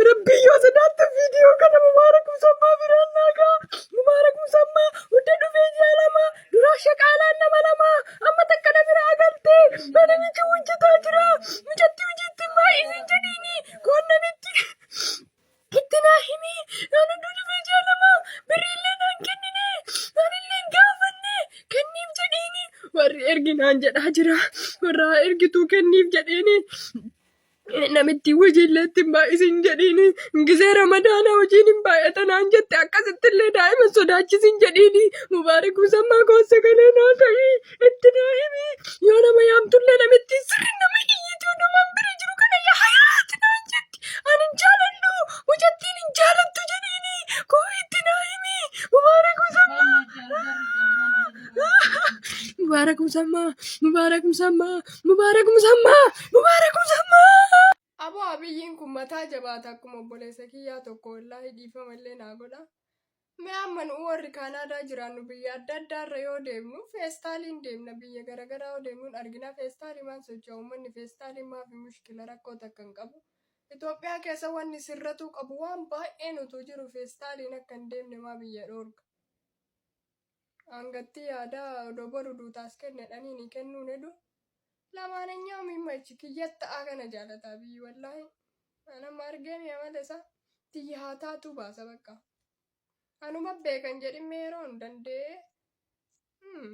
Rabbii yoo sodaatte viidiyoo kana Mubaarak Musammaa biraan naagaa. Mubaarak Musammaa hudda dhufee ji'a lama duraa shaqaalaan nama lama amma takka na biraa galte mana miti hojjetaa jira mucatti hojiitti maa isin jedhiini koon namitti itti naa himi naan hudduu dhufee ji'a lama birriillee naan kennine naanillee hin gaafanne kenniif jedhiini warri ergi naan jedhaa jira warra ergituu kenniif jedheeni Namittiin hojiillee ittiin baay'isiin jedhiini. Gisee ramadaanaa hojiin hin baay'ata naan jette akkasitti illee daa'ima sodaachisiin jedhiini. Mubaarik musammaa koossa galee naa ka'i itti naa himi. Yoo nama yaamtullee namittiin sirri nama iyyitii odumaan bira jiru kana yaa hayaati naan jetti. Ani hin jaaladhu mucattiin hin jaalattu jedhiini. Koo itti naa himi. Mubaarik musammaa. Mubaarak musammaa. Mubaarak musammaa. Mubaarak Musammaa! Mubaarak Musammaa! Aboo abiyyiin kun mataa jabaata akkuma obboleessa kiyyaa tokko wallaahi dhiifama illee naa godha. Mee amma nu warri Kaanaadaa jiraannu biyya adda addaarra yoo deemnu feestaaliin deemna biyya garaagaraa yoo deemnuun argina feestaaliimaan socho'a uummanni feestaaliin maafi mushkila rakkoo takka hin qabu. Itoophiyaa keessa wanni sirratuu qabu waan baay'een utuu jiru feestaaliin akka hin deemne maa biyya dhoorga. Angattii yaadaa odoo boru duutaas kenne dhaniini kennuun hedu lamaanenyaa miimma ichi kiyyatta akana jaalataa biyyi wallaahi an amma argee mi amala isaa tiyya haa taatuu baasa baqqa anuma beeka hin jedhin mee yeroon dandee mm.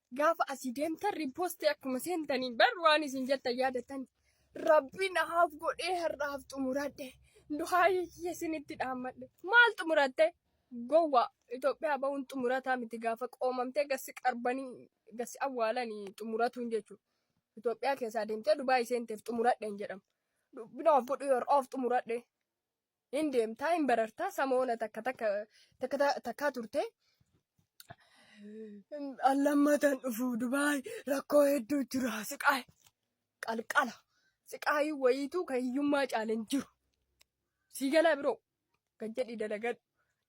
Gaafa asii deemtan riippoostii akkuma seentaniin bar waan isin jettan yaadattan rabbiin haaf godhee har'aaf xumuradhe duhaayii kiyya isinitti dhaammadhe maal xumuratte gowwaa Itoophiyaa ba'uun xumurataa miti gaafa qoomamtee gassi qarbanii gassi awwaalanii xumuratuun jechuudha. Itoophiyaa keessaa deemtee Dubaayii seenteef xumuradhe hin jedhamu. Dubbinaaf godhee har'aaf xumuradhe. hin deemtaa hin barartaa samoona takka takka takka ta- takkaa turte allammataan dhufu dubaay rakkoo hedduu jira siqaay qalqala siqaayii wayiituu kan hiyyummaa caale hin jiru sii galaa biroo gad jedhi dalagadhu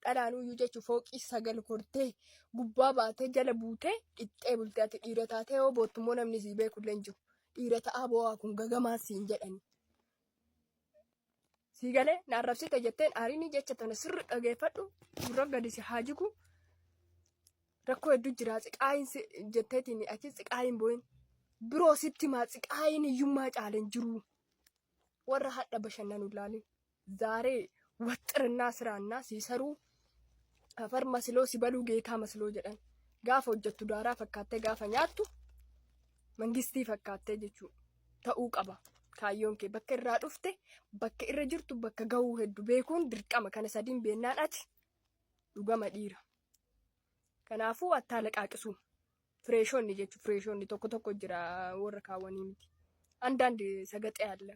dhalaan uyyuu jechuun fooqii sagal kortee gubbaa baatee jala buutee dhixxee bultee ati dhiira taatee yoo boottummoo namni sii beekullee hin jiru dhiira ta'aa boo'aa kun gagamaa siin jedhani Sii galee na arrabsite jetteen aariinii jecha tana sirri dhageeffadhu gurra gadi si haa jigu. Rakkoo hedduu jira xiqaayin si jetteetiin achi xiqaayin booyin. Biroo sitti maa xiqaayin hiyyummaa caaleen jiru. Warra hadha bashannanu ilaalin. Zaaree waxxirinnaa siraannaa sii saruu Afar masiloo si baluu geetaa masiloo jedhan. Gaafa hojjettu daaraa fakkaattee gaafa nyaattu mangistii fakkaattee jechuudha. Ta'uu qaba. Kaayyoon kee bakka irraa dhufte bakka irra jirtu bakka gahuu heddu beekuun dirqama kana sadiin beennaan ati dhugama dhiira. Kanaafuu attaa laqaaqisuu. Fireeshonni jechuun fireeshonni tokko tokko jira warra kaawwanii miti. Andaand sagaxee alla.